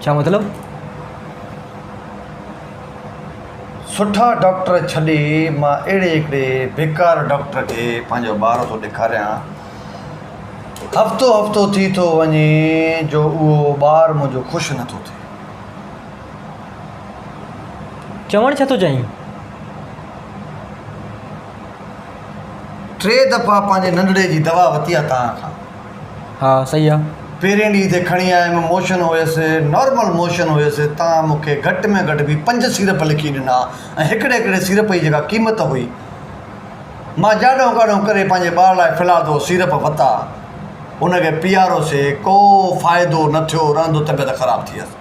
ڇا مطلب؟ سٺا ڊاڪٽر ڇڏي مان اهڙي هڪڙي بيڪار ڊاڪٽر کي پنهنجو ٻار ٿو ڏيکاريان. هفتو هفتو ٿي ٿو وڃي جو اهو ٻار منهنجو خوش نه ٿو ٿئي. چوڻ ڇا ٿو چاهين؟ ٽي دفعا پنهنجي ننڍڙي جي دوا وتي آ توهان کان. ها صحيح آ. پهرين ڏينهن تي کڻي آيم موشن هيس نارمل موشن هيس تان مون کي گهٽ ۾ گهٽ به پنج سيرپ لکي ڏنا ۽ هڪڙي هڪڙي سيرپ جي جيڪا قيمت هئي مان جاڏو ڪاڏو ڪري پنهنجي ٻار لاء ڦلاڌو سيرپ وتا ان کي پيارو سي ڪو فائدو نه ٿيو رهندو طبيعت خراب ٿي هيس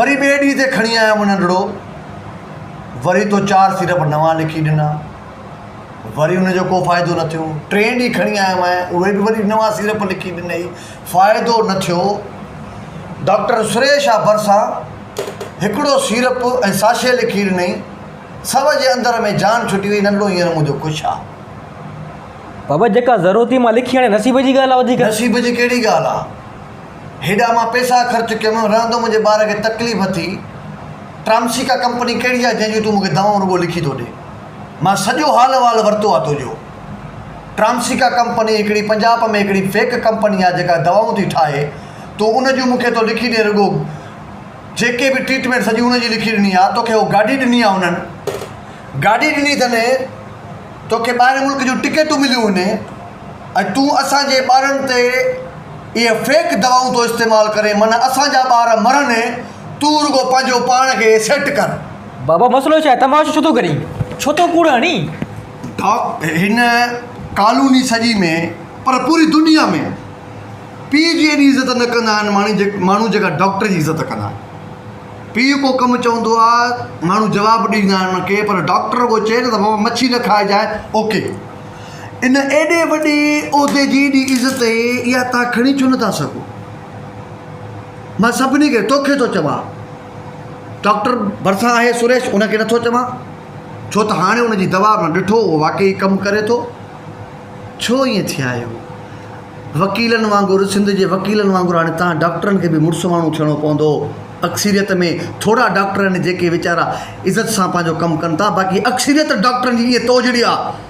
وري ٻئي ڏينهن تي کڻي آيم ننڍڙو وري تو چار سيرپ نوان لکي ڏنا. وري ان جو ڪو فائدو نه ٿيو. ٽئين ڏينهن کڻي آيو مئن، اهي به وري نوان سيرپ لکي ڏنئي، فائدو نه ٿيو. ڊاڪٽر سريش آء ڀرسان هڪڙو سيرپ ۽ ساشي لکي ڏنئي، سوء جي اندر ۾ جان ڇٽي وئي، ننڍڙو هينئر منهنجو خوش آ. بابا جيڪا ضرورت هئي مان لکي آڻي، نصيب جي ڳالهه آ وڌيڪ. نصيب جي ڪهڙي ڳالهه آ. هيڏا مان پئسا خرچ ڪيم، رهندو منهنجي ٻار کي تڪليف ٿي. ٽرامسيڪا ڪمپني ڪهڙي آهي جنهن جون تون مون کي دوائون رڳو لکي ٿو ڏين. مان سڄو حال احوال ورتو آهي تنهنجو. ٽرامسيڪا ڪمپني هڪڙي پنجاب ۾ هڪڙي فيڪ ڪمپني آهي جيڪا دوائون ٿي ٺاهي. تون ان جون مون کي ٿو لکي ڏين رڳو جيڪي به ٽريٽمينٽ سڄي ان جي لکي ڏني آهي. توکي اهو گاڏي ڏني آهي انهن. گاڏي ڏني اٿن. توکي ٻاهرين ملڪ جون ٽڪيٽون مليون اهن. ۽ تون اسان جي ٻارن تي اهي فيڪ دوائون ٿو استعمال ڪرين معنيٰ اسان جا ٻار مرن تون رڳو پنهنجو پاڻ کي سيٽ ڪر. بابا مسئلو ڇا آهي؟ تماشو ڇو ٿو ڪرين؟ ڇو ٿو ڪوڙ هڻين؟ ڊاڪٽر هن ڪالوني سڄي ۾ پر پوري دنيا ۾ پيء جي ايڏي عزت نه ڪندا آهن ماڻهو جيڪا ڊاڪٽر جي عزت ڪندا آهن پيء ڪو ڪم چوندو آهي ماڻهو جواب ڏيندا آهن ان کي پر ڊاڪٽر رڳو چئي ته بابا مڇي نه کائجانء اوڪي ان ايڏي وڏي عهدي جي ايڏي عزت اها توهان کڻي ڇو نه ٿا سگهو؟ مان سڀني کي، توکي ٿو چوان. ڊاڪٽر ڀرسان آهي سريش، ان کي نٿو چوان، ڇو ته هاڻي ان جي دوا مان ڏٺو اهو واقعي ڪم ڪري ٿو. ڇو ائين ٿيا آهيو؟ وڪيلن وانگر، سنڌ جي وڪيلن وانگر هاڻي توهان ڊاڪٽرن کي به مڙس ماڻهو ٿيڻو پوندو. اڪثريت ۾ ٿورا ڊاڪٽر آهن، جيڪي ويچارا عزت سان پنهنجو ڪم ڪن ٿا، باقي اڪثريت ڊاڪٽرن جي ائين توجڙي آهي،